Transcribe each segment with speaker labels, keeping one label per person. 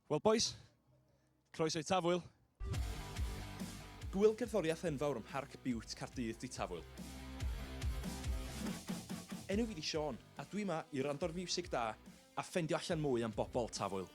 Speaker 1: Wel bois, croeso i Tafwyl. Gŵyl
Speaker 2: cerddoriaeth enfawr ym Mharc Biwt Caerdydd 'di Tafwyl. Enw fi 'di Siôn, a dwi 'ma i wrando'r fiwsig da a ffendio allan mwy am bobl Tafwyl.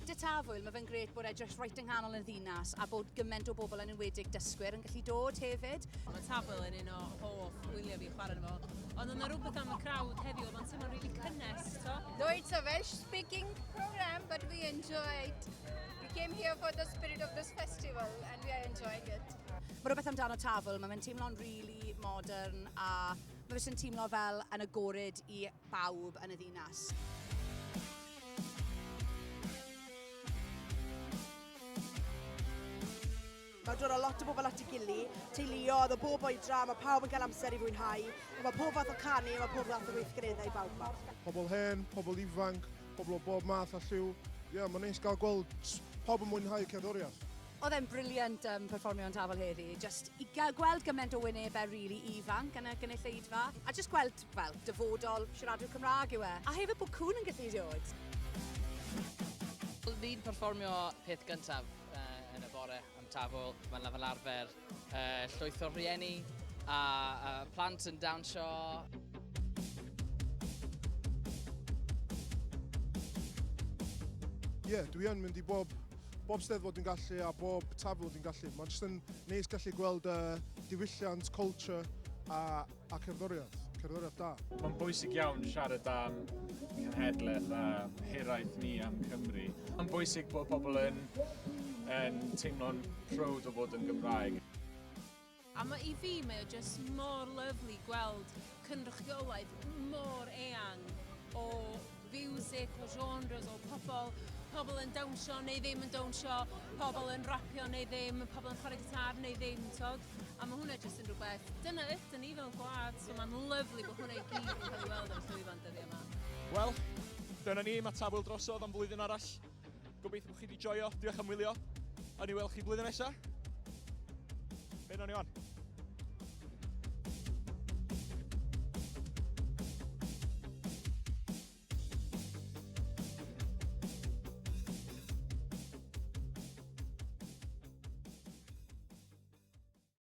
Speaker 3: De Tafwyl, ma fe'n grêt bod e jyst reit yng nghanol y ddinas a bod gyment o bobl yn enwedig dysgwyr yn gallu dod hefyd. Mae Tafwyl yn un
Speaker 4: o hoff wyliau fi chwarae arno fo. Ond oedd 'na rywbeth am y crowd heddiw, oedd o'n Mae'n really cynnes, so. No, it's a Welsh
Speaker 5: speaking program, but we enjoyed. We came here for the spirit of this festival and we are enjoying it. Mae rhywbeth amdano
Speaker 3: tafl, mae'n teimlo'n really modern a mae fe'n teimlo fel yn agored i bawb yn y ddinas.
Speaker 6: Mae dod â lot o bobl at ei gili, teuluodd o bob oedran, mae pawb yn cael amser i fwynhau, mae pob fath o canu, mae pob fath o weithgareddau bawb ma. Pobl hen, pobl
Speaker 7: ifanc, pobl o bob math a lliw. Ie, yeah, mae'n neis gael gweld pawb yn mwynhau cerddoriaeth. Oedd e'n briliant
Speaker 3: um, perfformio yn Tafel heddi. Just i gweld gymaint o wynebau rili really ifanc yn y gynulleidfa. A just gweld, wel, dyfodol siaradwyr Cymraeg yw e. A hefyd bod cwn yn gallu dod.
Speaker 8: Ni'n perfformio peth gyntaf. uh, yn y bore am tafwyl. Mae'n fel arfer uh, llwyth o rhieni a, a plant yn dawnsio. Ie,
Speaker 7: yeah, dwi yn mynd i bob, bob steddfod dwi'n gallu a bob tafwyl dwi'n gallu. Mae'n jyst yn neis gallu gweld uh, diwylliant, culture a A cerddoriaeth, cerddoriaeth da. Mae'n bwysig
Speaker 9: iawn siarad am cenhedlaeth a hiraeth ni am Cymru. Mae'n bwysig bod pobl yn, yn teimlo'n proud o fod yn Gymraeg. A
Speaker 4: mae i fi, mae o just mor lyflu gweld cynrychiolaeth mor eang o fiwsig o genres o pobl, pobl yn dawnsio neu ddim yn dawnsio, pobl yn rapio neu ddim, pobl yn chwarae gitar neu ddim, tod. A mae hwnna jyst yn rhywbeth, dyna ydyn ni fel gwlad, so mae'n lyflu bod hwnna i gyd yn cael ei weld ar y llwyfan dyddiau yma. Wel,
Speaker 1: dyna ni, mae Tafwyl drosodd am flwyddyn arall. Gobeithio bod chi wedi joio. Diolch am wylio. O'n i weld chi blwyddyn nesaf. Be nawn ni on?